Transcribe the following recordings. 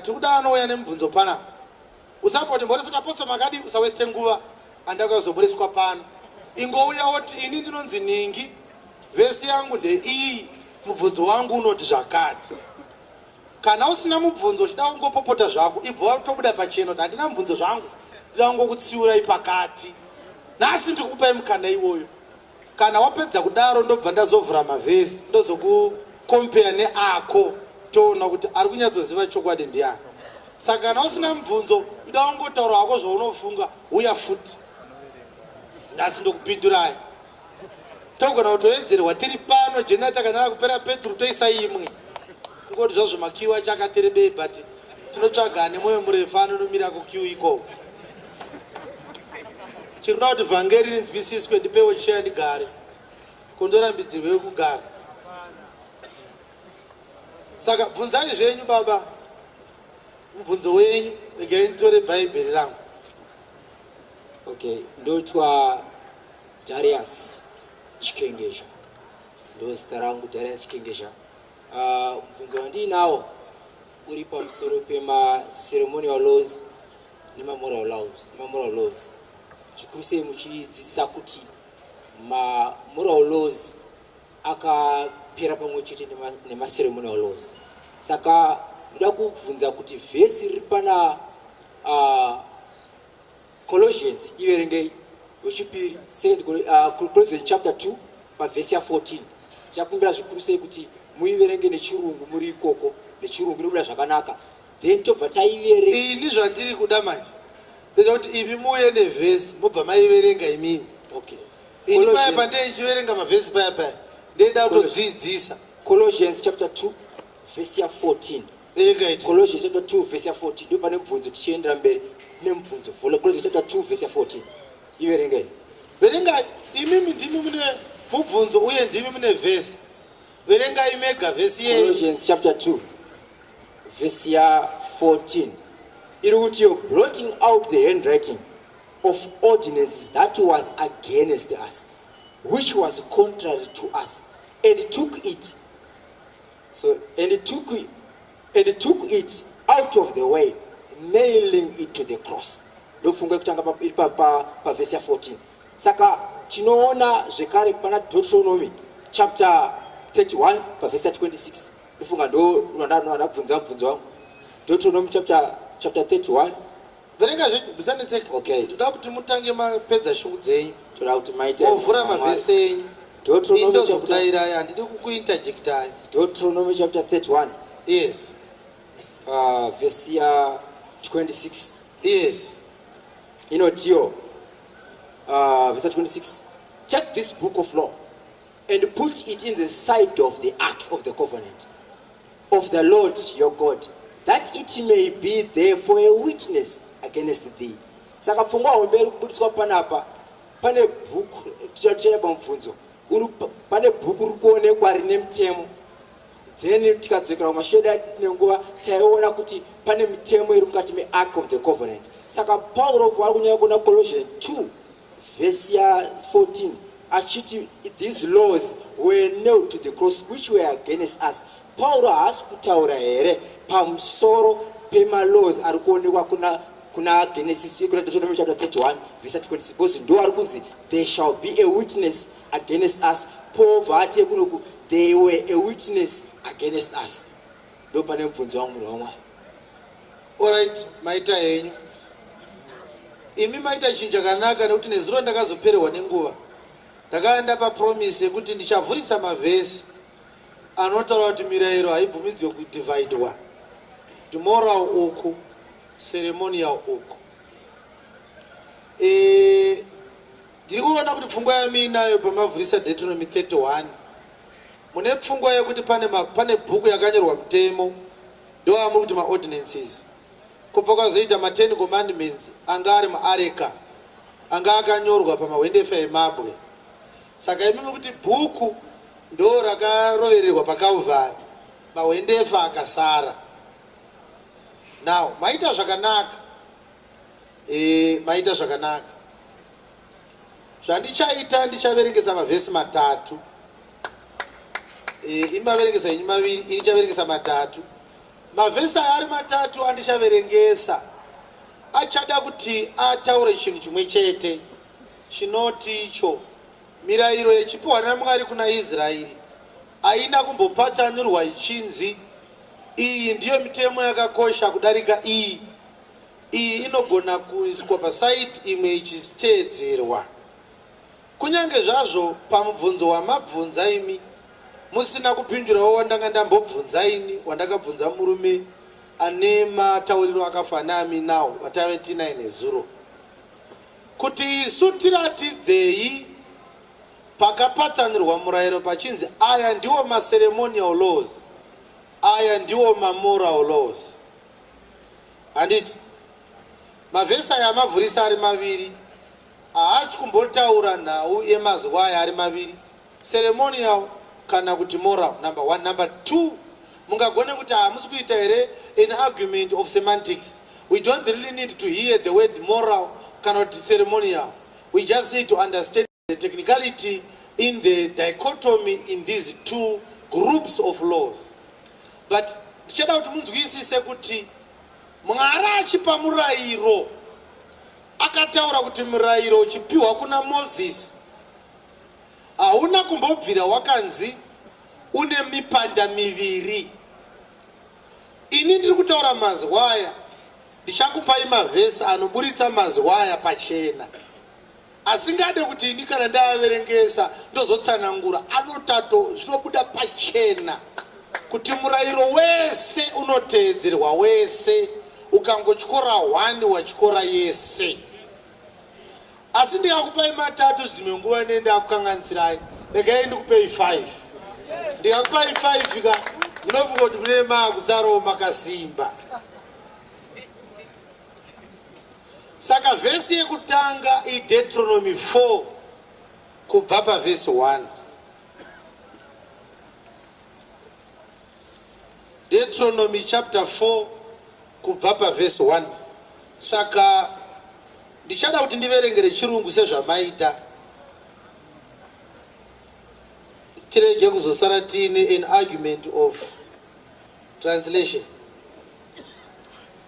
Tikuda anouya nemubvunzo pana. Usamboti mboresota apostle makadi usaweste nguva andakuya kuzoburiswa pano. Ingouya woti ini ndinonzi ningi vhesi yangu ndeiyi mubvunzo wangu unoti zvakati. Kana usina mubvunzo uchida kungopopota zvako ibva watobuda pachena kuti handina mubvunzo zvangu ndinoda kungokutsiurai pakati. Nhasi ndikupai mukana iwoyo. Kana wapedza kudaro ndobva ndazovhura mavhesi ndozokukompeya neako toona kuti ari kunyatsoziva chokwadi ndiani. Saka kana usina mubvunzo ida wangotaura hako zvaunofunga uya futi. Nhasi ndokupindurai. Togona kutoedzerwa tiri pano jena takanara kupera peturu toisa imwe. Ngoti zvazvo makiwa chakaterebei but tinotsvaga ane mwoyo murefu anonomira kukiu ikoko. chirikuda kuti vhangeri rinzwisiswe ndipewo cheya ndigare kondorambidzirwe kugara saka bvunzai zvenyu baba mubvunzo wenyu regai nditore bhaibheri rangu okay ndotwa darius chikengesha ndozita rangu darius chikengesha ah, mubvunzo uh, wandiinawo uri pamusoro pemaceremonial laws nemamoral laws nemamoral laws zvikuru sei muchidzidzisa kuti mamoral laws akapera pamwe chete nemaceremonial laws saka ndoda kubvunza kuti vhesi riri pana uh, colossians iverengei wechipiri second uh, colossians chapter 2 pavhesi ya 14 chakumbira zvikuru sei kuti muiverenge nechirungu muri ikoko nechirungu inobuda zvakanaka then tobva taiverenga ini zvandiri kuda manje ndoda kuti imi muuye nevhesi mobva maiverenga imimi okay ini paya pandee ndichiverenga mavhesi paya paya ndeida kutodziidzisa colossians chapter 2 vhesi ya 14 egaiti colossians chapter 2 vhesi ya 14 ndo pane mubvunzo tichiendera mberi nemubvunzo colossians chapter 2 vhesi ya 14 iverengai verengai imimi ndimi mune mubvunzo uye ndimi mune vhesi verengai mega vhesi yeColossians chapter 2 vhesi ya 14 iri kuti yo blotting out the handwriting of ordinances that was against us which was contrary to us and took it so and took it, and took it out of the way nailing it to the cross ndofunga kutanga iri pavhesi ya 14 Saka tinoona zvekare pana Deuteronomy chapter 31 pavhesa 26 ndofunga ndorandabvunza mubvunzo wangu Deuteronomy chapter, chapter 31 verenga zvenyu musanetseka okay. toda kuti mutange mapedza shungu dzenyu toda kuti maiteovhura mavhesi enyu indozokudairayi handidi kukuinterjectai deuteronomy chapter 31 yes uh, vhesi ya 26 yes inotiyo uh, verse 26 take this book of law and put it in the side of the ark of the covenant of the lord your god that it may be there for a witness against thee saka pfungwa hombe iri kubudiswa panapa pane bhuku tichatichera pamubvunzo pane bhuku riri kuonekwa rine mutemo then tikadzokera kumashedu adi tine nguva taiona kuti pane mitemo iri mukati meark of the covenant saka pauro vari kunyaya kuona collusion 2 vhesi ya 14 achiti these laws were nailed to the cross which were against us pauro haasi kutaura here pamusoro pemalaws ari kuonekwa kuna kuna genesis kuna deuteronomy chapter 31 vhesi 26 because ndo ari kunzi there shall be a witness against us poverty yekunoku they were a witness against us ndo pane mubvunzo wangu munhu wamwari orit maita henyu imi maita chinhu chakanaka nekuti nezuro ndakazopererwa nenguva ndakaenda papromise yekuti ndichavhurisa mavhesi anotaura kuti mirayiro haibvumidzwe kudivhaidwa timoral uku ceremonial uku e, Ndiri kuona kuti pfungwa yamiinayo pamavhurisa Deuteronomy 31 mune pfungwa yekuti pane, ma, pane bhuku yakanyorwa mutemo ndoamuri kuti maordinances kubva kwazoita ma10 commandments anga ari muareka anga akanyorwa pamahwendefa emabwe saka imimi kuti bhuku ndo rakarovererwa pakalvari mahwendefa akasara now maita zvakanaka E, maita zvakanaka. Zvandichaita ndichaverengesa mavhesi matatu. E, ini maverengesa ini maviri, ini ndichaverengesa matatu. Mavhesi aya ari matatu andichaverengesa achada kuti ataure chinhu chimwe chete chinoti icho mirayiro yechipiwa naMwari kuna Israeri haina kumbopatsanurwa ichinzi iyi ndiyo mitemo yakakosha kudarika iyi iyi inogona kuiswa pasaidi imwe ichiteedzerwa. Kunyange zvazvo pamubvunzo wamabvunza imi musina kupindurawo wandanga ndambobvunza ini wandakabvunza murume ane matauriro akafanami now watave tinaye nezuro kuti isu tiratidzei pakapatsanirwa murayiro pachinzi aya ndiwo maceremonial laws aya ndiwo mamoral laws handiti mavhesi aya amavhurisa ari maviri haasi kumbotaura nhau yemazuva aya ari maviri ceremonial kana kuti moral number one number two mungagone kuti hamusi kuita here an argument of semantics we don't really need to hear the word moral kana kuti ceremonial we just need to understand The technicality in the dichotomy in these two groups of laws but ndichada kuti munzwisise kuti mwari achipa murayiro akataura kuti murayiro uchipiwa kuna mozisi hauna kumbobvira wakanzi une mipanda miviri ini ndiri kutaura mazwaya ndichakupai mavhesi anoburitsa mazwaya pachena asingade kuti ini kana ndaaverengesa ndozotsanangura anotato zvinobuda pachena kuti murayiro wese unoteedzerwa wese ukangotyora hwani watyora yese asi ndikakupai matatu zvimwe nguva ne ndakukanganisirayi regai ndikupei 5 ndikakupai 5 ka munofunga kuti mune maakuzaroo makasimba Saka vhesi yekutanga iDeuteronomy 4 kubva pavhesi 1. Deuteronomy chapter 4 kubva pavhesi 1. Saka ndichada kuti ndiverengere chirungu sezvamaita tirege kuzosara tiine an argument of translation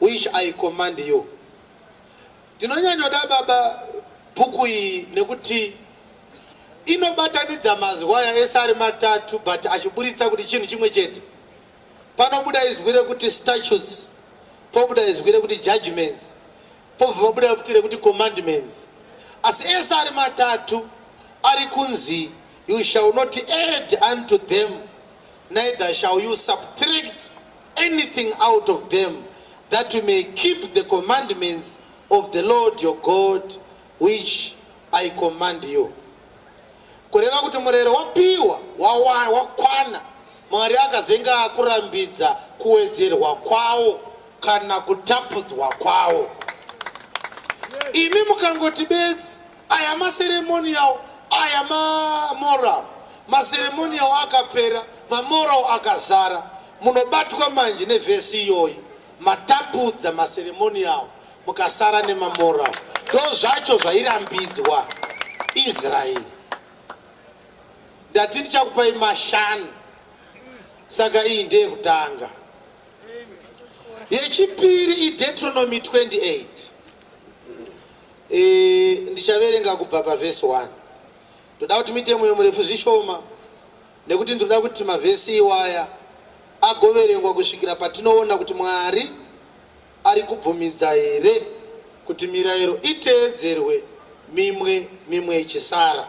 which I command you. Ndinonyanyoda baba bhuku iyi nekuti inobatanidza mazwi aya ese ari matatu but achiburitsa kuti chinhu chimwe chete. Panobuda izwi rekuti statutes, pobuda izwi rekuti judgments, pobva pabuda futi rekuti commandments. Asi ese ari matatu ari kunzi you shall not add unto them neither shall you subtract anything out of them that you may keep the commandments of the Lord your God which I command you kureva kuti murero wapiwa wakwana mwari akazenga akurambidza kuwedzerwa kwawo kana kutapudzwa kwawo imi mukangoti bedzi Aya maceremonial aya mamoral maceremonial akapera mamoral akazara munobatwa manje nevhesi iyoyi matapudza maceremonial mukasara nemamoral ndo zvacho zvairambidzwa israeri ndati ndichakupai mashanu saka iyi ndeyekutanga yechipiri ideutronomy 28 E, ndichaverenga kubva pavhesi 1 ndoda kuti muite mwoyo murefu zvishoma nekuti ndinoda kuti mavhesi iwaya agoverengwa kusvikira patinoona kuti mwari ari kubvumidza here kuti mirayiro iteedzerwe mimwe mimwe ichisara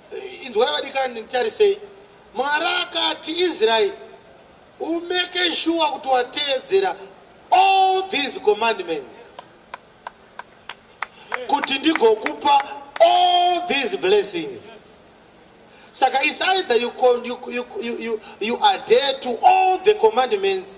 Inzwai vadikani, nditarisei. Mwari akati Israeri, umeke shuwa kuti wateedzera all these commandments kuti ndigokupa all these blessings. Saka it's either you, you, you, you, you adhere to all the commandments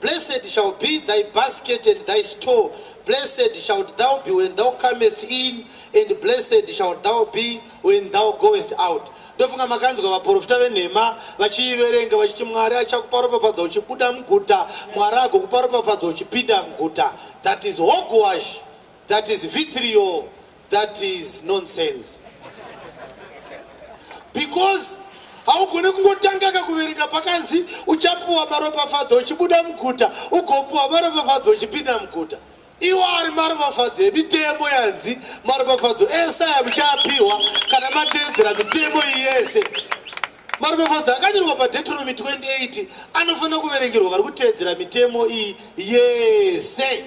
Blessed shall be thy basket and thy store. Blessed shalt thou be when thou comest in, and blessed shalt thou be when thou goest out. ndofunga makanzwa vaprofita venhema vachiiverenga vachiti mwari achakupa ropafadzo uchibuda muguta mwari agokupa ropafadzo uchipinda muguta that is hogwash that is vitrio That is nonsense. Because haugone kungotanga kakuverenga pakanzi uchapuwa maropafadzo uchibuda muguta ugopuwa maropafadzo uchipinda muguta iwo ari maropafadzo emitemo yanzi maropafadzo ese aya muchaapiwa kana mateedzera mitemo iyi yese maropafadzo akanyorwa padeuteronomy 28 anofanira kuverengerwa vari kuteedzera mitemo iyi yese yes.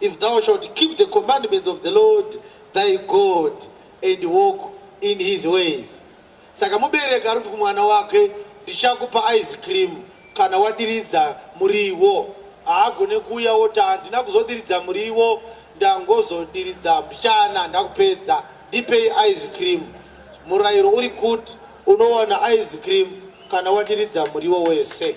If thou shalt keep the commandments of the Lord thy God and walk in his ways. Saka mubereki ari kuti kumwana wake ndichakupa ice cream kana wadiridza muriwo. Haagone kuuya woti handina kuzodiridza muriwo ndangozodiridza mbichana ndakupedza ndipei ice cream. Murayiro uri kuti unowana ice cream kana wadiridza muriwo wese.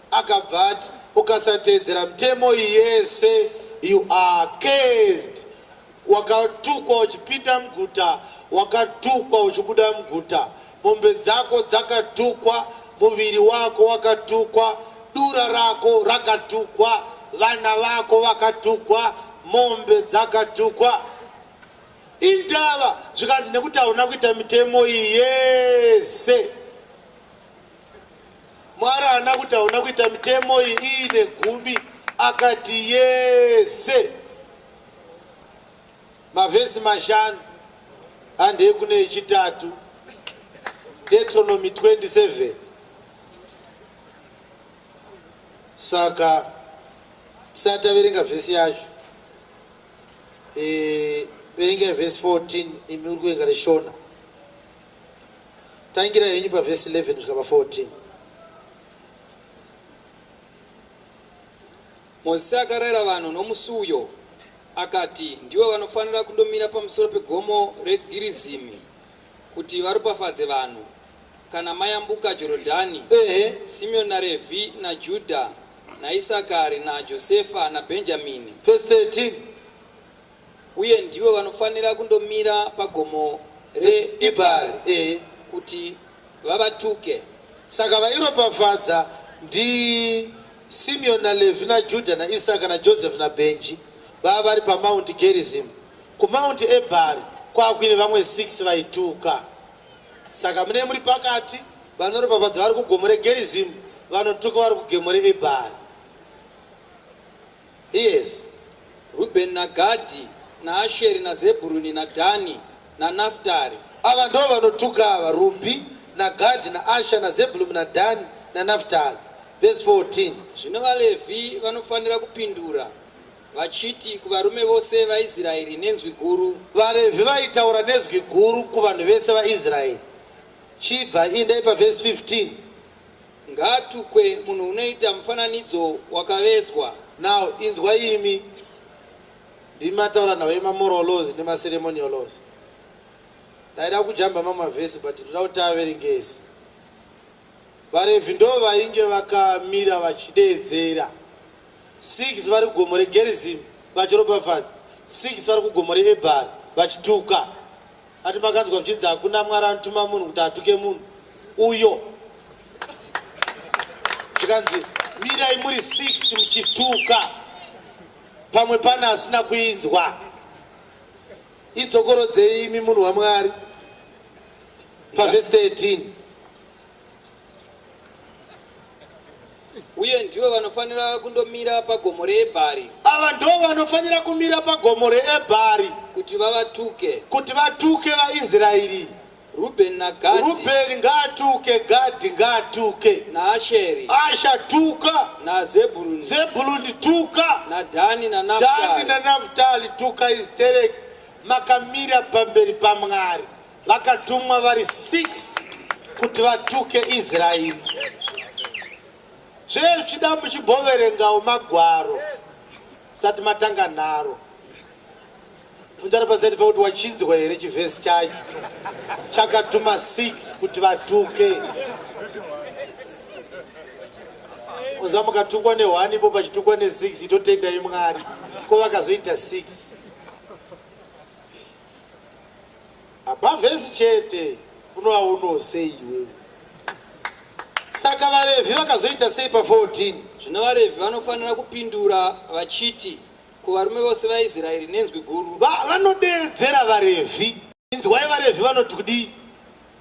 Akabva ati, Ukasateedzera mitemo iyi yese, you are cursed. Wakatukwa uchipinda muguta, wakatukwa uchibuda muguta. Mombe dzako dzakatukwa, muviri wako wakatukwa, dura rako rakatukwa, vana vako vakatukwa, mombe dzakatukwa. Indava zvikanzi nekuti hauna kuita mitemo iyi yese. Mwari haana kuti hauna kuita mitemo iyi iyi negumi akati yese mavhesi mashanu handei kune yechitatu deuteronomy 27 saka tisati averenga vhesi yacho e, verengai vhesi 14 imi uri kuverenga reshona Tangira henyu pavhesi 11 kusvika pa 14. Mozisi akarayira vanhu nomusi uyo, akati, Ndivo vanofanira kundomira pamusoro pegomo reGirizimi kuti varopafadze vanhu, kana mayambuka Jorodhani, Ehe, Simeoni naRevhi naJudha naIsakari naJosefa naBhenjamini. vhesi 13. uye ndivo vanofanira kundomira pagomo reEbhari e, kuti vavatuke. Saka vairopafadza ndi Simeon na Levi na Juda na Isaka na Joseph na Benji vava vari pa Mount Gerizim ku Mount Ebhari kwakuine vamwe 6 vaituka saka mune muri pakati vanoropafadza vari ku gomo re Gerizim vanotuka vari ku gomo re Ebhari Yes, Rubheni naGadhi naAsheri naZebhuruni naDhani naNafutari. Ava ndivo vanotuka ava, Rubhi naGadhi naAsha naZebhulumi naDhani naNafutari. Vhesi 14. Zvino vaLevhi vanofanira kupindura vachiti kuvarume vose vaIsraeri nenzwi guru. VaLevhi vaitaura nezwi guru kuvanhu vese vaIsraeri. Chibva indai pavhesi 15. Ngaatukwe munhu unoita mufananidzo wakavezwa. Now inzwa imi ndimi mataura nhau yemamoral laws nemaceremonial laws. Ndaida kujamba mamwe mavhesi but ndoda kuti averengezi. VaRevhi ndo vainge vakamira vachideedzera six vari kugomo reGerizimu vachiropafadza six vari kugomo reEbhari vachituka. Ati makanzwa zvichinzi hakuna Mwari anotuma munhu kuti atuke munhu uyo. Zvikanzi mirai muri six muchituka pamwe pane asina kuinzwa. Idzokorodzei imi munhu waMwari pavhesi 13. uye ndivo vanofanira kundomira pagomo reebhari ava ndo vanofanira kumira pagomo reebhari kuti vavatuke kuti vatuke vaisraeri rubheni nagadi rubheni ngaatuke gadhi ngaatuke naasheri asha tuka nazebhuruni zebhuluni tuka nadhani dani nanaftali nanaftali tuka istereki makamira pamberi pamwari vakatumwa vari 6 kuti vatuke israeri zvee zvichida muchimboverengawo magwaro musati matanga nharo fundarapasati pakuti wachinzwa here chivhesi chacho chakatuma 6 kuti vatuke uza mukatukwa ne1 ipo pachitukwa ne6 itotendai mwari ko vakazoita 6 Abavhesi chete unoaonawo sei iwewe? Saka vaRevhi vakazoita sei pa 14? Zvino vaRevhi vanofanira kupindura vachiti kuvarume vose vaIsraeri nenzwi guru. Va- Vanodeedzera vaRevhi. Inzwai vaRevhi vanoti kudii?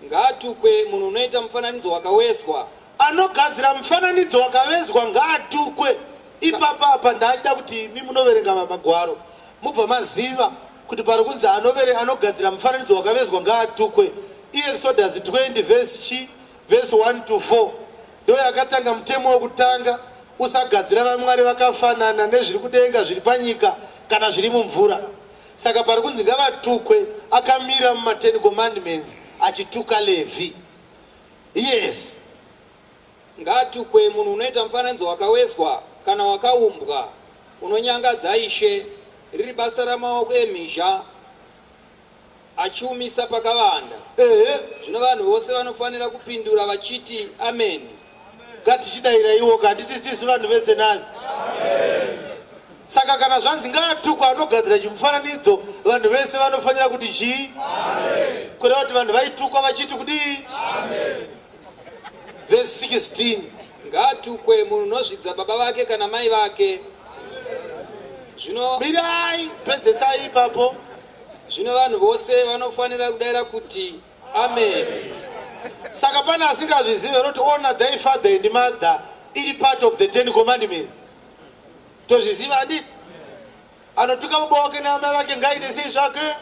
Ngaatukwe munhu unoita mufananidzo wakavezwa. Anogadzira mufananidzo wakavezwa ngaatukwe. Ipapa apa ndaachida kuti imi munoverenga magwaro mubva maziva kuti pari kunzi anovere anogadzira mufananidzo wakavezwa ngaatukwe. Iexodus 20 vhesi chi vhesi 1 to 4 ndo yakatanga mutemo wekutanga usagadzira vamwari vakafanana nezviri kudenga zviri panyika kana zviri mumvura. Saka pari kunzi ngavatukwe akamira mumaten commandments achituka Levhi. Yes. Ngaatukwe munhu unoita mufananidzo wakawezwa kana wakaumbwa unonyangadza Ishe, riri basa ramaoko emhizha achiumisa pakavanda. Ehe. Zvino vanhu vose vanofanira kupindura vachiti ameni. ngatichidaira iwoka handiti tisu vanhu vese nazi saka kana zvanzi ngaatukwa anogadzira chimufananidzo vanhu vese vanofanira kuti chii kureva kuti vanhu vaitukwa vachiti kudii vhesi 16 ngaatukwe munhu unozvidza baba vake kana mai vake zvino mirai pedzesai ipapo zvino vanhu vose vanofanira kudaira kuti Amen. Saka pane asingazvizive roti honor thy father and mother iri part of the ten commandments. Tozviziva handiti? Anotuka baba wake naamai vake ngaite sei zvake?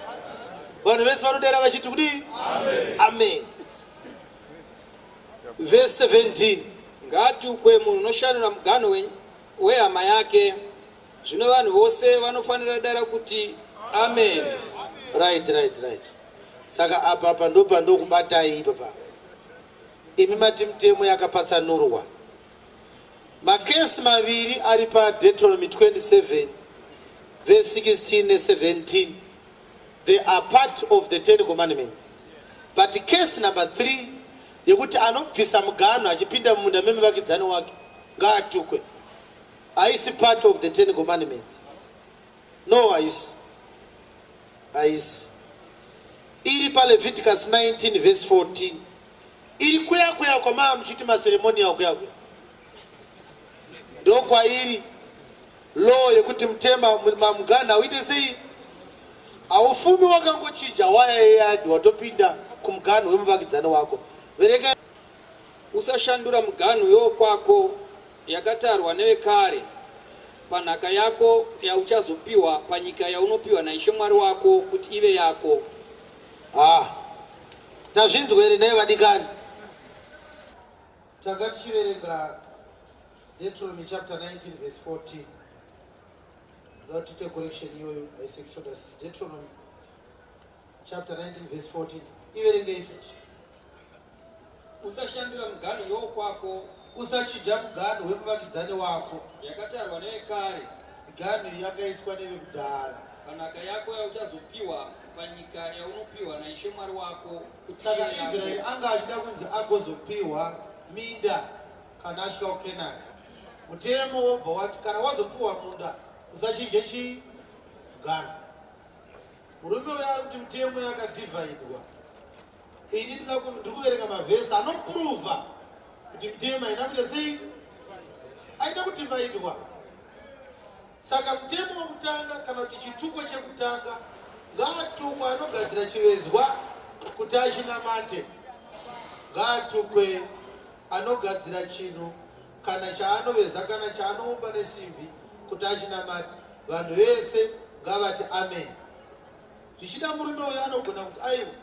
Vanhu vese vanodera vachiti kudii? Amen. Amen. Verse 17. Ngaatukwe munhu unoshandura muganho wenyu wehama yake zvino vanhu vose vanofanira dara kuti amen right right right Saka apa apa ndopandokubatai ipapa imi mati mitemo yakapatsanurwa makesi maviri ari padetronomy 27 verse 16 ne17 they are part of the ten commandments but case number 3 yekuti anobvisa muganho achipinda mumunda memuvakidzani wake ngaatukwe haisi part of the ten commandments No, haisi. Haisi. Iri paLeviticus 19 verse 14. Iri kuya kuya kwamaa muchiti maceremonial kuya kuya. Ndokwairi law yekuti mutema mamuganha uite sei? Haufumi wakangochinja waya yeyadi watopinda kumuganho wemuvakidzani wako. Vereka usashandura muganhu yokwako yakatarwa nevekare panhaka yako yauchazopiwa panyika yaunopiwa naIshe Mwari wako kuti ive yako. Ah, tazvinzwa here nei vadikani? Tanga tichiverenga Deuteronomy chapter 19 verse 14. Toda kuti tiite correction iyoyo, haisi Exodus, Deuteronomy chapter 19 verse 14 iverengei futi usashandira muganhu yokwako usachidya muganhu wemuvakidzani wako yakatarwa nevekare miganhu yakaiswa nevekudhara panhaka yako yauchazopiwa panyika yaunopiwa naishe mwari wako saka israeri anga achida kunzi agozopiwa minda kana asvika kukenani mutemo wobva wati kana wazopiwa munda usachinje chii muganhu Murume uyo ari kuti mutemo yakadivhaidwa. Ini ndiri kuverenga mavhesi anopruvha kuti mutemo haina kuita sei? Haina kudivhaidwa. Saka mutemo wekutanga kana kuti chituko chekutanga ngaatukwe anogadzira chivezwa kuti achinamate. Ngaatukwe anogadzira chinhu kana chaanoveza kana chaanoumba nesimbi kuti achinamati vanhu vese ngavati amen zvichida murume uyo anogona kuti aiwa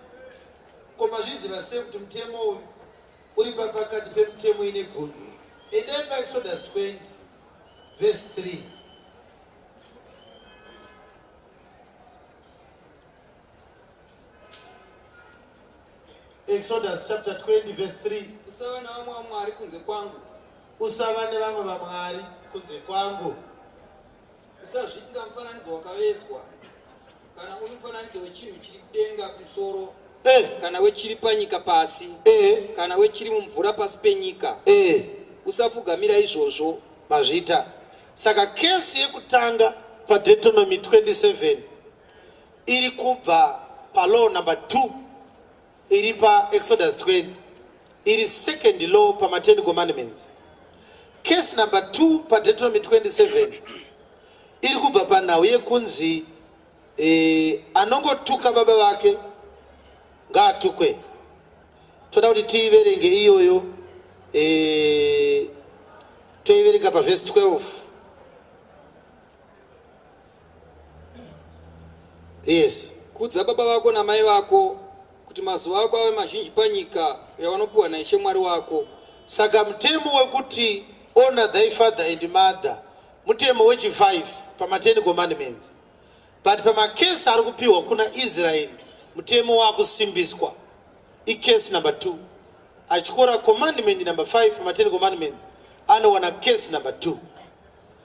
ko mazviziva sei kuti mutemo uyu uri papakati pemutemo ine goni endai paexodus 20 vhesi 3 Exodus chapter 20 verse 3. Usava nevamwe vamwari kunze kwangu. Usava nevamwe vamwari kunze kwangu. Usazviitira mufananidzo wakaveswa kana uri mufananidzo wechinhu chiri kudenga kumusoro eh. kana wechiri panyika pasi eh. kana wechiri mumvura pasi penyika eh. usapfugamira izvozvo mazvita saka kesi yekutanga padetonomy 27 iri kubva palaw number 2 iri paexodus 20 iri second law pamaten commandments case number 2 padeuteronomy 27 iri kubva panhau yekunzi eh, anongotuka baba vake ngaatukwe toda kuti tiiverenge iyoyo eh, toiverenga pavhesi 12 yes kudza baba vako namai vako kuti mazuva ako ave mazhinji panyika yavanopiwa naishe mwari wako saka mutemo wekuti honor thy father and mother mutemo wechi5 pamaten commandments but pamakesi ari kupiwa kuna israeri mutemo wakusimbiswa icase number 2 achikora commandment number 5 pamaten commandments anowana case number 2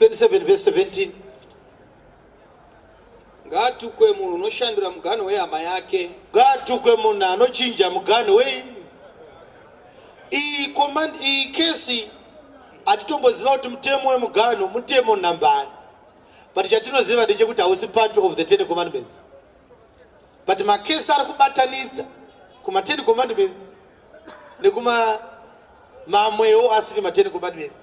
27 verse 17 ngaatukwe munhu unoshandura muganho wehama yake ngaatukwe munhu anochinja muganho wei iyi command iyi kesi hatitomboziva kuti mutemo wemuganho mutemo nambani but chatinoziva ndechekuti hausi part of the ten commandments but makesi ari kubatanidza kumaten commandments nekumamwewo asiri maten commandments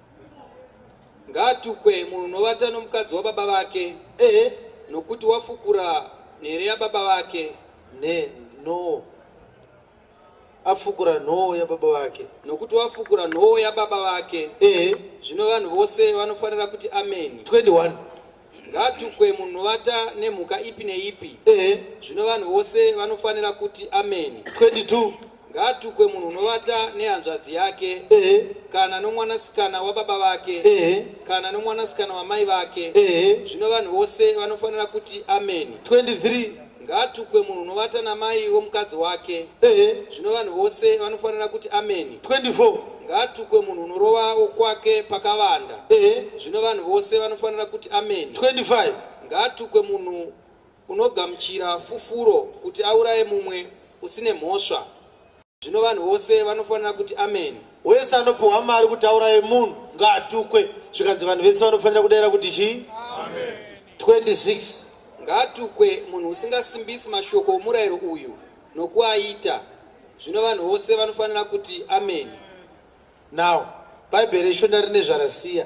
Ngaatukwe munhu unovata nomukadzi wababa vake, Ehe, nokuti wafukura nhere yababa vake, ne no. Afukura nhoo yababa vake. nokuti wafukura nhoo yababa vake. Ehe, Zvino vanhu vose vanofanira kuti ameni. 21. ngatukwe munhu vata nemhuka ipi neipi ehe zvino vanhu vose vanofanira kuti ameni 22 ngaatukwe munhu unovata nehanzvadzi yake ehe kana nomwanasikana wababa vake ehe kana nomwanasikana wamai vake ehe zvino vanhu vose vanofanira kuti ameni 23 Ngaatukwe munhu unovata namai womukadzi wake. Ehe. Zvino vanhu vose vanofanira kuti ameni. 24. Ngaatukwe munhu unorova wokwake pakavanda. Ehe. Zvino vanhu vose vanofanira kuti ameni. 25. Ngaatukwe munhu unogamuchira fufuro kuti auraye mumwe usine mhosva. Zvino vanhu vose vanofanira kuti ameni. Wese anopiwa mari kuti auraye munhu ngaatukwe. Zvikanzi vanhu vese vanofanira kudaira kuti chii? Amen. 26. Ngaatukwe munhu usingasimbisi mashoko omurayiro uyu nokuaita. Zvino vanhu vose vanofanira kuti ameni. Now, Bhaibheri reShona rine zvarasiya.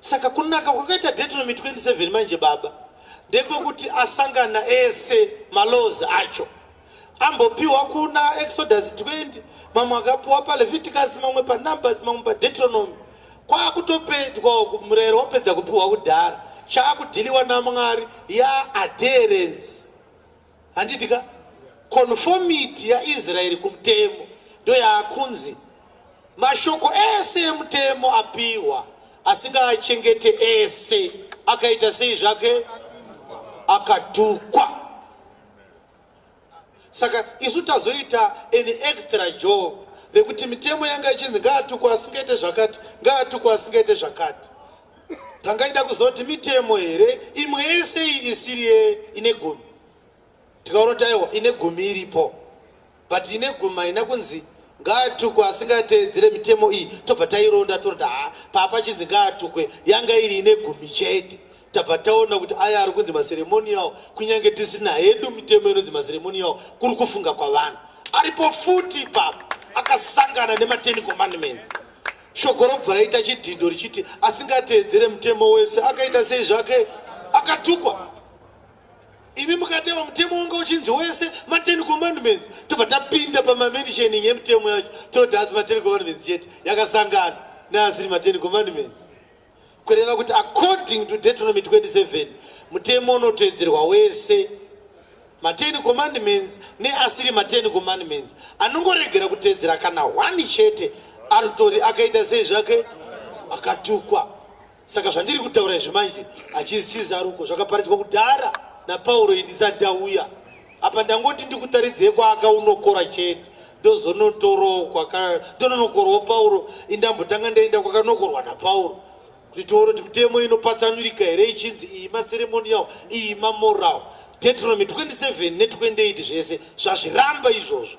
Saka kunaka kwakaita Deuteronomy 27 manje baba ndekwekuti asangana ese malozi acho ambopiwa kuna Exodus 20 mamwe akapiwa paLeviticus mamwe paNumbers mamwe paDeuteronomy kwakutopedwa murero wapedza kupiwa kudhara chaakudhiliwa naMwari ya adherence handiti ka conformity yaisraeri kumutemo ndoyaakunzi mashoko ese emutemo apiwa asingaachengete ese akaita sei zvake akatukwa saka isu tazoita an extra job rekuti mitemo yanga ichinzi ngaatukwa asingaite zvakati ngaatukwa asingaite zvakati tangaida kuziva kuti mitemo here imwe yese iyi isiri ine gumi tikaona kuti aiwa ine gumi iripo but ine gumi haina kunzi ngaatukwe asingateedzere mitemo iyi tobva taironda toroda ha papa chinzi ngaatukwe yanga iri ine gumi chete tabva taona kuti aya ari kunzi maseremonial kunyange tisina hedu mitemo inonzi maseremonial kuri kufunga kwavanhu aripo futi papa akasangana nemateni commandments Shoko robva raita chidhindo richiti asingateedzere mutemo wese akaita sei zvake akatukwa. Imi mukateva mutemo wanga uchinzi wese maten commandments tobva tapinda pamamentioning yemutemo yacho toti asi maten commandments chete yakasangana neasiri maten commandments. kureva kuti according to deuteronomy 27 mutemo unoteedzerwa wese maten commandments neasiri maten commandments anongoregera kuteedzera kana one chete anotori akaita sei zvake akatukwa saka zvandiri kutaura izvi manje hachizi chizaruko zvakaparadzwa kudhara napauro indisati auya apa ndangoti ndikutaridzei kwaakaunokora chete ndozonotorowo kwaka ndononokorwawo pauro indambotanga ndaenda kwakanokorwa napauro kuti tione kuti mitemo inopatsanurika here ichinzi iyi maceremonial iyi mamoral deuteronomy 27 ne 28 zvese zvazviramba izvozvo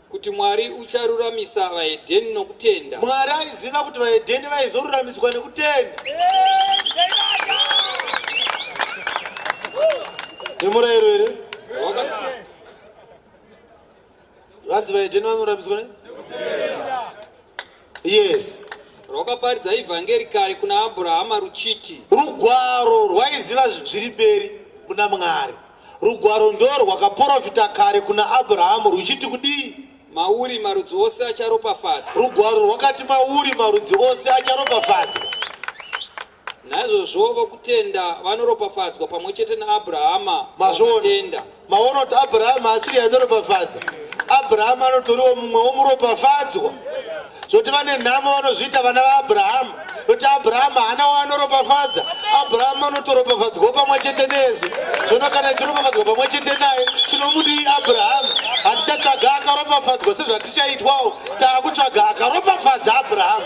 Kuti Mwari ucharuramisa vaHedheni nokutenda. Mwari aiziva kuti vaHedheni vaizoruramiswa nekutenda. Nemurayiro here? Vanzi vaHedheni vanoruramiswa ne? Yes. Rwakaparidza ivhangeri kare kuna Abrahama ruchiti. Rugwaro rwaiziva zviri mberi muna Mwari. Rugwaro ndoo rwakaporofita kare kuna Abrahamu ruchiti kudii? Mauri marudzi ose acharopafadzwa. Rugwaro rwakati mauri marudzi ose acharopafadzwa. naizvozvovo kutenda vanoropafadzwa pamwe chete naabrahama mazvotenda maona kuti abrahama asiri anoropafadza abrahama anotoriwo mumwe womuropafadzwa zvoti vane nhamo vanozviita vana vaabrahama noti abrahama haana waanoropafadza abrahama anotoropafadzwawo pamwe chete nesu zvino kana tichiropafadzwa pamwe chete naye tinomudii abrahama hatichatsvaga akaropafadzwa sezvatichaitwawo taakutsvaga akaropafadza abrahama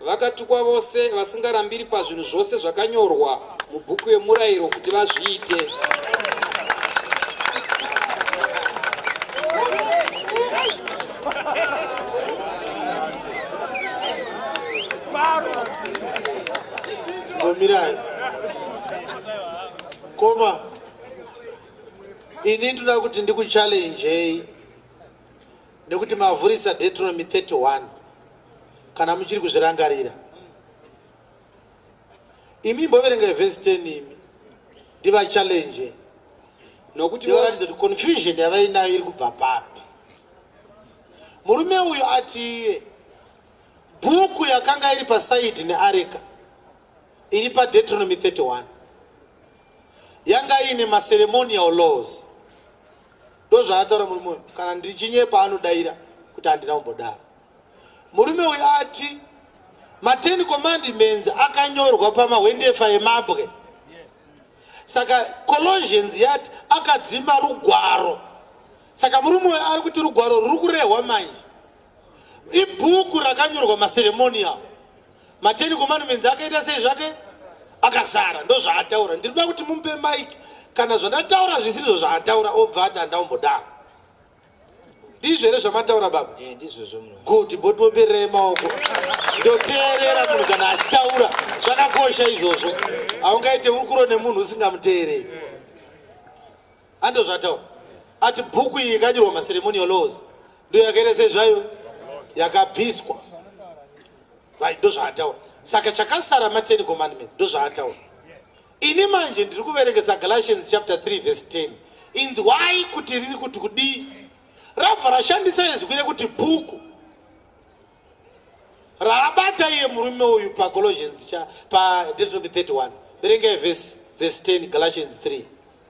Vakatukwa vose vasingarambiri pazvinhu zvose zvakanyorwa mubhuku yemurayiro kuti vazviite. Mirai. Koma ini ndinoda kuti ndikuchallenjei nekuti mavhurisa Deuteronomy 31 kana muchiri kuzvirangarira imi mboverenga vhesi 10 imi ndivachallenge nokuti varatidza kuti confusion yavainayo iri kubva papi murume uyu ati iye bhuku yakanga iri pasaidi neareka iri padetronomy 31 yanga iine maceremonial laws ndozvaataura murume uyu kana ndichinyepa anodaira kuti handina kumbodaro murume uyu ati mateni commandments akanyorwa pamahwendefa emabwe saka colosians yati akadzima rugwaro saka murume uyu ari kuti rugwaro ruri kurehwa manje ibhuku rakanyorwa maceremonial mateni commandments akaita sei zvake akazara ndozvaataura ndiri kuda kuti mumpe mike kana zvandataura zvisirizvo zvaataura obva ati handaumbodaro ndizvo here zvamataura baba eh, good botiombererei maoko ndoteerera munhu kana achitaura zvakakosha izvozvo haungaite ukuro nemunhu usingamuteerei andozvatawo ati bhuku iyi ikanyorwa maceremonial laws ndo yakaita sezvayo yakabviswa right ndozvaataura saka chakasara maten commandments ndozvaataura ini manje ndiri kuverengesa galatians chapter 3 verse 10 inzwai kuti riri kuti kudii rabva rashandisa izwi rekuti bhuku raabata iye murume uyu pacolossians cha padetropi 31 verengai vhesi vhesi 10 galatians 3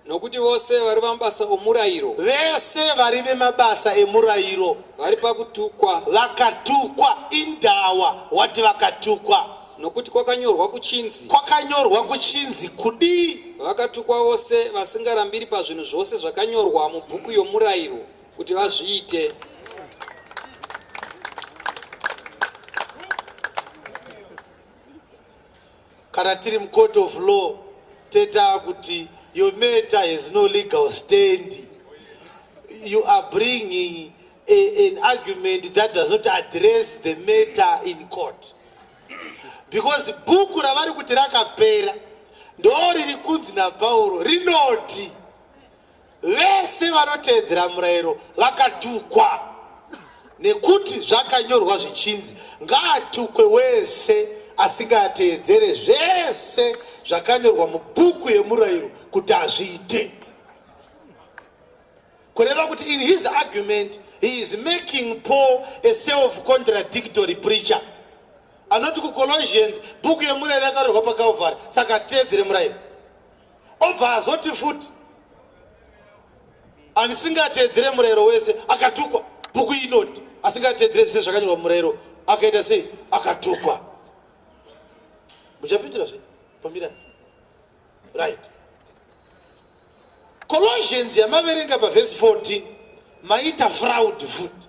nokuti vose vari vamabasa omurayiro vese vari vemabasa emurayiro vari pakutukwa vakatukwa indawa wati vakatukwa nokuti kwakanyorwa kuchinzi kwakanyorwa kuchinzi kudii vakatukwa vose vasingarambiri pazvinhu zvose zvakanyorwa mubhuku yomurayiro kuti vazviite kana tiri mucourt of law tetaa kuti your matter has no legal stand you are bringing a, an argument that does not address the matter in court because bhuku ravari kuti rakapera ndo riri kunzi napauro rinoti Vese vanoteedzera murayiro vakatukwa, nekuti zvakanyorwa zvichinzi, Ngaatukwe wese asingateedzere zvese zvakanyorwa mubhuku yemurayiro kuti azviite. Kureva kuti in his argument he is making Paul a self-contradictory preacher. Anoti kuColossians bhuku yemurayiro yakarehwa paCalvary, saka teedzere murayiro. obva azoti futi asingateedzere murayiro wese akatukwa bhuku inoti asingateedzere zvese zvakanyorwa murayiro akaita sei akatukwa muchapindira zve pamira right colossians yamaverenga pavhesi 14 maita fraud futi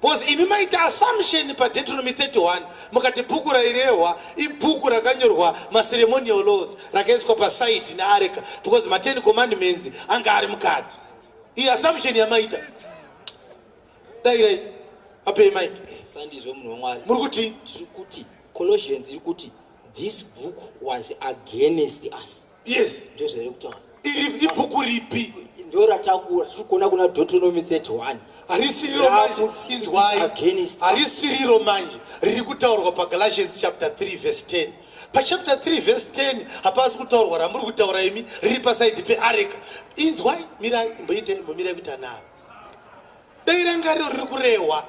Because imi maita assumption pa Deuteronomy 31 mukati bhuku rairehwa ibhuku rakanyorwa ma ceremonial laws rakaiswa pa side ne areka because ma 10 commandments anga ari mukati. Iyi assumption yamaita. Dai rai ape mic. Sandizvo munhu waMwari. Muri kuti tiri kuti Colossians iri kuti this book was against us. yes ndozvere kutaura iri ibhuku ripi ndoratakura tiri kuona kuna deuteronomy 31 harisiriro manje inzwai harisiriro manje riri kutaurwa pagalatians chapter 3 verse 10 pachapter 3 verse 10 hapasi kutaurwa ramuri kutaura imi riri pasaidi peareka inzwai mirai mboite mbomirai kuita naro dai rangariro riri kurehwa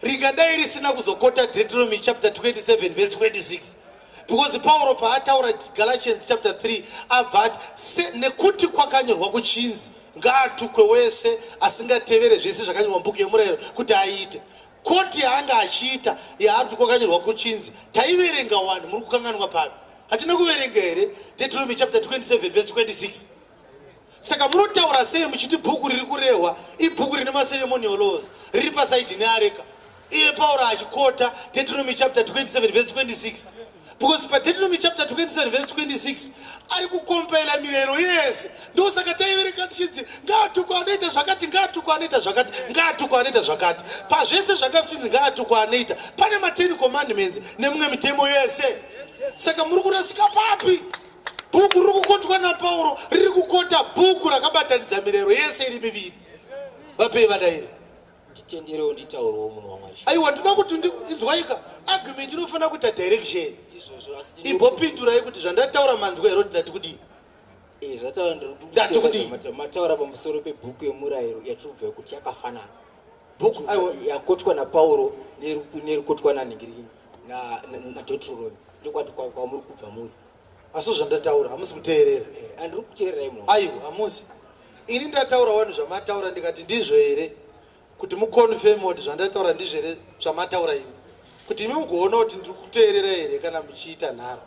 ringadai risina kuzokota deuteronomy chapter 27 verse 26 because pauro paataura galatians chapter 3 abva ati nekuti kwakanyorwa kuchinzi ngaatukwe wese asingatevere zvese zvakanyorwa mubhuku yemurayiro kuti aite koti yaanga achiita yaari kuti kwakanyorwa kuchinzi taiverenga wani muri kukanganwa papi hatina kuverenga here deuteronomy chapter 27 verse 26 saka munotaura sei muchiti bhuku riri kurehwa ibhuku rine maceremonial laws riri pasaidi neareka iye pauro achikota deuteronomy chapter 27 vese 26 because padeuteronomy chapter 27 vese 26 ari kukompaila mirero yese ndo saka taivereka tichinzi ngaatukwa anoita zvakati ngaatukwa anoita zvakati ngaatukwa anoita zvakati pazvese zvanga zvichinzi ngaatukwa anoita pane ma10 commandments nemumwe mitemo yese saka muri kurasika papi Bhuku riri kukotwa naPauro riri kukota bhuku rakabatanidza mirayiro yese iri miviri. Vapei vadairi. Nditenderewo nditaurewo munhu waMwari. Aiwa ndinoda kuti inzwaika argument inofanira kuita direction. Ibopindurai kuti zvandataura manzwa here kuti ndati kudii? Eh, zvataura ndiri kuti mataura pamusoro pebhuku yemurayiro yatiri kubva kuti yakafanana. Bhuku yakotwa naPauro nerikotwa nanhingirini naDotroroni ndokwati kwamuri kubva muri. asi zvandataura hamusi kuteerera andiri kuteererai munhu aiwa hamusi ini ndataura wani zvamataura ndikati ndizvo here kuti muconfirm kuti zvandataura ndizvo here zvamataura imi kuti imi mugoona kuti ndiri kuteerera here kana muchiita nharo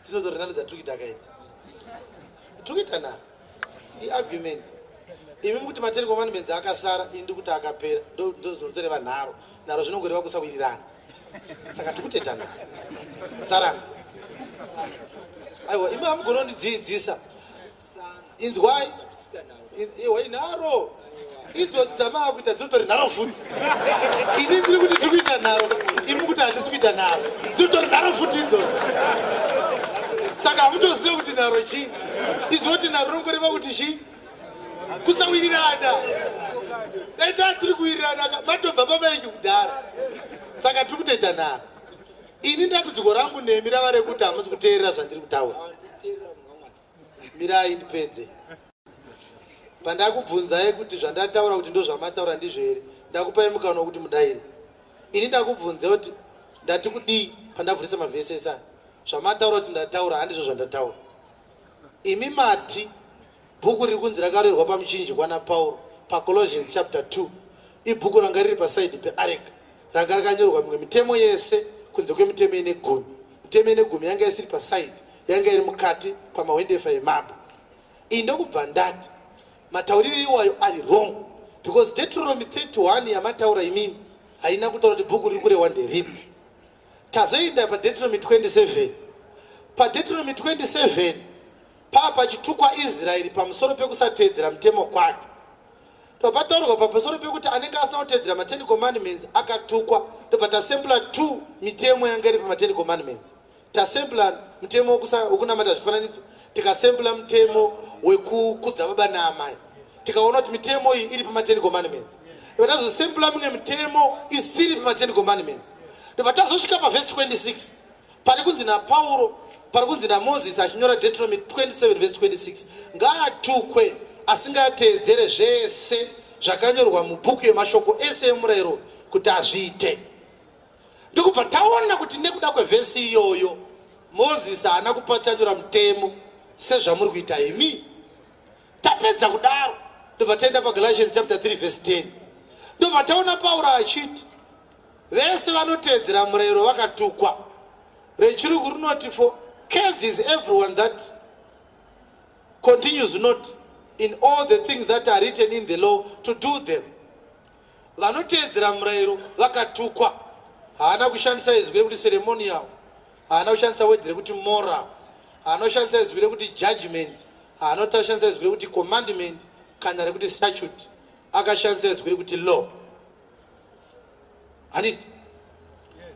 dzinotorinani dzatiri kuita kaidzi tiri kuita nharo iargument imi mukuti matelecom anomenzi akasara ini ndikuti akapera ndozvinotoreva nharo nharo zvinongoreva kusawirirana saka tikutetana sarana aiwa imi amugonondidziidzisa inzwai iwa inharo idzodzi dzamava kuita dzinotori nharo futi ini ndiri kuti tiri kuita nharo imi kuti handisi kuita nharo dzinotori nharo futi idzodzi saka hamutozive kuti nharo chii izoti nharo rongoreva kuti chii kusawirirana dai taa tiri kuwirirana matobva pamaengi kudhara saka tiri kutoita nharo ini dambudziko rangu nemi rava rekuti hamusi kuteerera zvandiri kutaura mirai ndipedze pandakubvunzai kuti zvandataura kuti ndozvamataura ndizvo here ndakupai mukana wekuti mudaini ini ndakubvunzai kuti ndati kudii pandavhurisa mavhesi ese aya zvamataura kuti ndataura handizvo zvandataura imi mati bhuku riri kunzi rakarerwa pamuchinji kwana pauro pacolossians chapter 2 ibhuku ranga riri pasaidi peareka ranga rakanyorwa mimwe mitemo yese kunze kwemitemo ine gumi mitemo ine gumi yanga isiri pasaidi yanga iri mukati pamahwendefa emabwe iyi ndokubva ndati matauriri iwayo ari wrong because detronomy 31 yamataura imimi haina kutaura kuti bhuku riri kurehwa nderipi tazoenda padetronomy 27 padetronomy 27 Pava pachitukwa Israeri pamusoro pekusateedzera mutemo kwake. Pava pataurwa pamusoro pekuti anenge asina kuteedzera maTen Commandments akatukwa. Tobva tasempla two mitemo yanga iri pamaTen Commandments. Tasempla mutemo wekunamata zvifananidzo, tikasempla mutemo wekukudza baba naamai. Tikaona kuti mitemo iyi iri pamaTen Commandments. Tobva tazosempla mimwe mitemo isiri pamaTen Commandments. Tobva tazosvika pavhesi 26. pari kunzi napauro pari kunzi namozisi achinyora deuteronomy 27 vese 26 ngaatukwe asingateedzere zvese zvakanyorwa mubhuku yemashoko ese emurayiro kuti azviite ndikubva taona kuti nekuda kwevhesi iyoyo mozisi haana kupatsanura mutemo sezvamuri kuita imi tapedza kudaro ndobva taenda pagalatians chapter 3 vhesi 10 ndobva taona pauro achiti Vese vanoteedzera murayiro vakatukwa. Rechirungu rinoti for cursed is everyone that continues not in all the things that are written in the law to do them. Vanoteedzera murayiro vakatukwa. Haana kushandisa izwi rekuti ceremonial. Haana kushandisa word rekuti moral. Haana kushandisa izwi rekuti judgment. Haana kushandisa izwi rekuti commandment kana rekuti statute. Akashandisa izwi rekuti law. handiti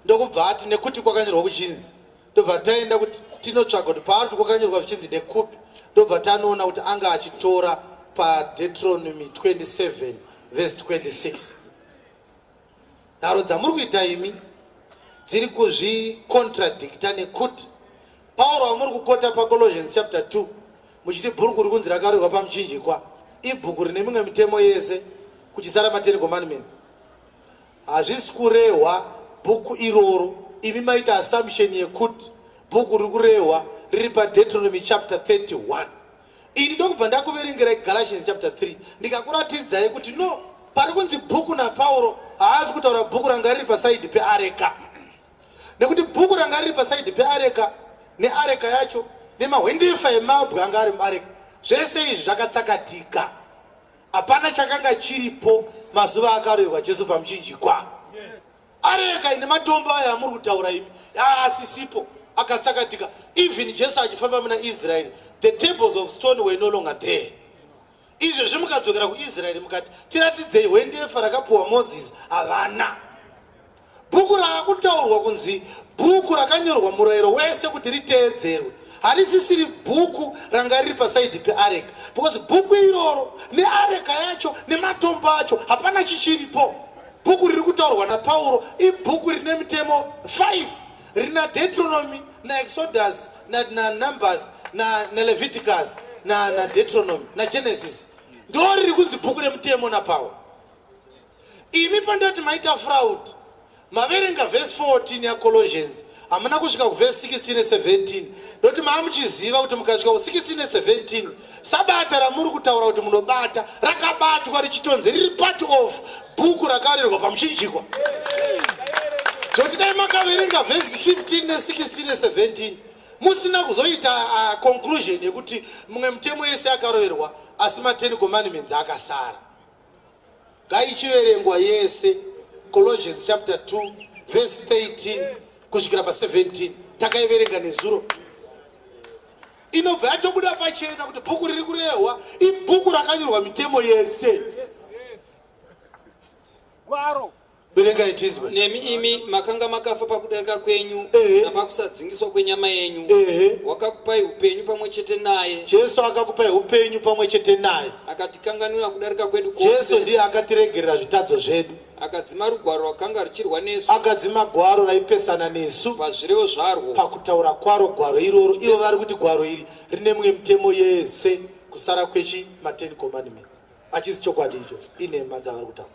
ndokubva ati nekuti kwakanyorwa kuchinzi ndobva taenda kuti tinotsvaga kuti paari kuti kwakanyorwa zvichinzi nekupi ndobva tanoona kuti anga achitora padetronomy 27 vese 26 nharo dzamuri kuita imi dziri kuzvikontradicta nekuti pauro amuri kukota pacolossians chapter 2 Muchiti bhuruku rikunzi rakarurwa pamuchinjikwa ibhuku rine mimwe mitemo yese kuchisara mateni commandments hazvisi kurehwa bhuku iroro imi maita assumption yekuti bhuku riri kurehwa riri padetronomy chapter 31 ini ndokubva ndakuverengerai galatians chapter 3 ndikakuratidzai kuti no pari kunzi bhuku napauro haasi kutaura bhuku ranga riri pasaidi peareka nekuti bhuku ranga riri pasaidi peareka neareka yacho nemahwendefa emabwe anga ari muareka zvese izvi zvakatsakatika hapana chakanga chiripo mazuva akaroyerwa jesu pamuchinjikwa areka ine matombo ayo amuri kutaura imi asisipo akatsakatika even jesu achifamba muna israeri the tables of stone were no longer there izvezvi mukadzokera kuisraeri mukati tiratidzei hwendefa rakapuwa mozisi havana bhuku raakutaurwa kunzi bhuku rakanyorwa murayiro wese kuti riteedzerwe harisisiri bhuku ranga riri pasaidhi peareka because bhuku iroro neareka yacho nematombo acho hapana chichiripo bhuku riri kutaurwa napauro ibhuku rine mitemo 5 Rina Deuteronomy na Exodus na, na Numbers na, na Leviticus na, na Deuteronomy na Genesis ndo riri kunzi bhuku remutemo na power. Imi pandati maita fraud maverenga verse 14 ya Colossians hamuna kusvika kuverse 16 ne 17 ndoti maamuchiziva kuti mukasvika ku 16 ne 17 Sabata ramuri kutaura kuti munobata rakabatwa richitonzi riri part of bhuku rakarirwa pamuchinjikwa zvoti dai makaverenga vhesi 15 ne16 ne17 musina kuzoita uh, conclusion yekuti mumwe mutemo yese yakaroverwa asi ma10 commandments akasara ngaichiverengwa yese colossians chapter 2 verse 13 kusvikira pa17 takaiverenga nezuro inobva yatobuda pachena kuti bhuku riri kurehwa ibhuku rakanyorwa mitemo yese gwaro verengai tinzwe nemi imi makanga makafa pakudarika kwenyu Ehe. napakusadzingiswa kwenyama yenyu Ehe. wakakupai upenyu pamwe chete naye jesu akakupai upenyu pamwe chete naye akatikanganwira kudarika kwedu jesu kwose ndiye akatiregerera zvitadzo zvedu akadzima rugwaro rwakanga ruchirwa nesu akadzima gwaro raipesana nesu pazvirevo zvarwo pakutaura kwaro gwaro iroro ivo vari kuti gwaro iri rine mimwe mitemo yese kusara kwechi ma10 commandments achisi chokwadi icho inhema dzavari kutaura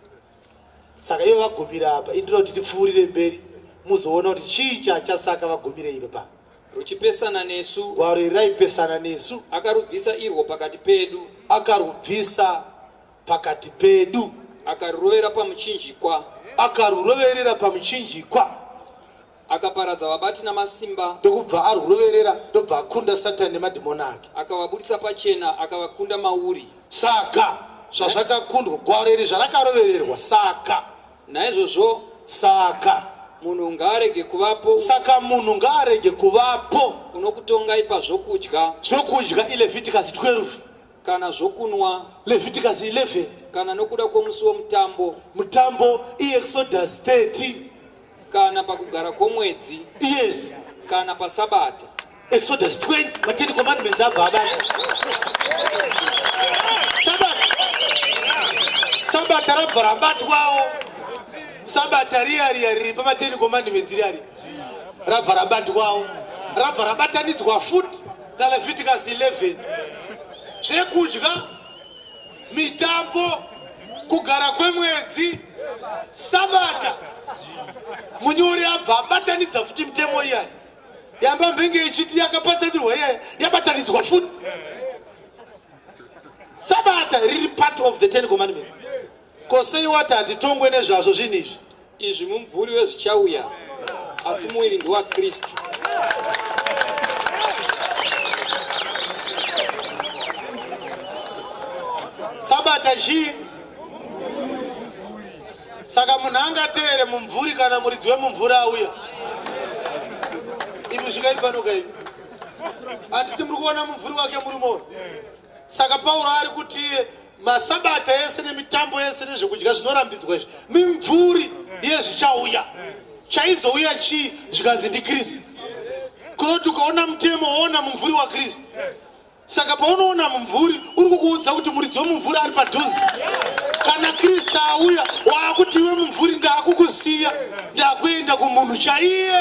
saka ivo vagumira apa indira kuti tipfuurire mberi muzoona kuti chii chachasaka vagumire ivo pa ruchipesana nesu gwaro iri raipesana nesu akarubvisa irwo pakati pedu akarubvisa pakati pedu akarurovera pamuchinjikwa akaruroverera pamuchinjikwa Akaparadza vabati namasimba. Ndokubva arwuroverera ndobva akunda Satani nemadhimoni ake. Akavabudisa pachena akavakunda mauri. Saka zvazvakakundwa gwaro iri zvarakarovererwa saka naizvozvo saka munhu ngaarege kuvapo saka munhu ngaarege kuvapo unokutongai pazvokudya zvokudya ileviticus 12 kana zvokunwa leviticus 11 kana nokuda kwomusi womutambo mutambo iexodus 30 kana pakugara kwomwedzi yes kana pasabata exodus 20 mateni commandments abva abata sabata sabata rabva rabatwawo sabata riya riya riri pamateni commandments riya riya rabva rabatwawo rabva rabatanidzwa futi naleviticus 11 zvekudya mitambo kugara kwemwedzi sabata munyori abva abatanidza futi mitemo iyayi yamba mbenge ichiti yakapatsanirwa iyayi yabatanidzwa futi sabata riri part of the ten commandments Ko sei wati hatitongwe nezvazvo zvinhu izvi? Izvi mumvuri wezvichauya, asi muviri ndowaKristu. Sabata chii? Saka munhu angateere mumvuri kana muridzi wemumvuri auya? Imi svikai pano kaimi. Handiti muri kuona mumvuri wake muri moyo? Saka Pauro ari kuti masabata ese nemitambo yese nezvekudya zvinorambidzwa izvi mimvuri yezvichauya chaizouya chii zvikanzi ndikristu kuroti ukaona mutemo woona mumvuri wakristu saka paunoona mumvuri uri kukuudza kuti muridzi wemumvuri ari padhuze kana kristu auya waakuti iwe mumvuri ndaakukusiya ndaakuenda kumunhu chaiye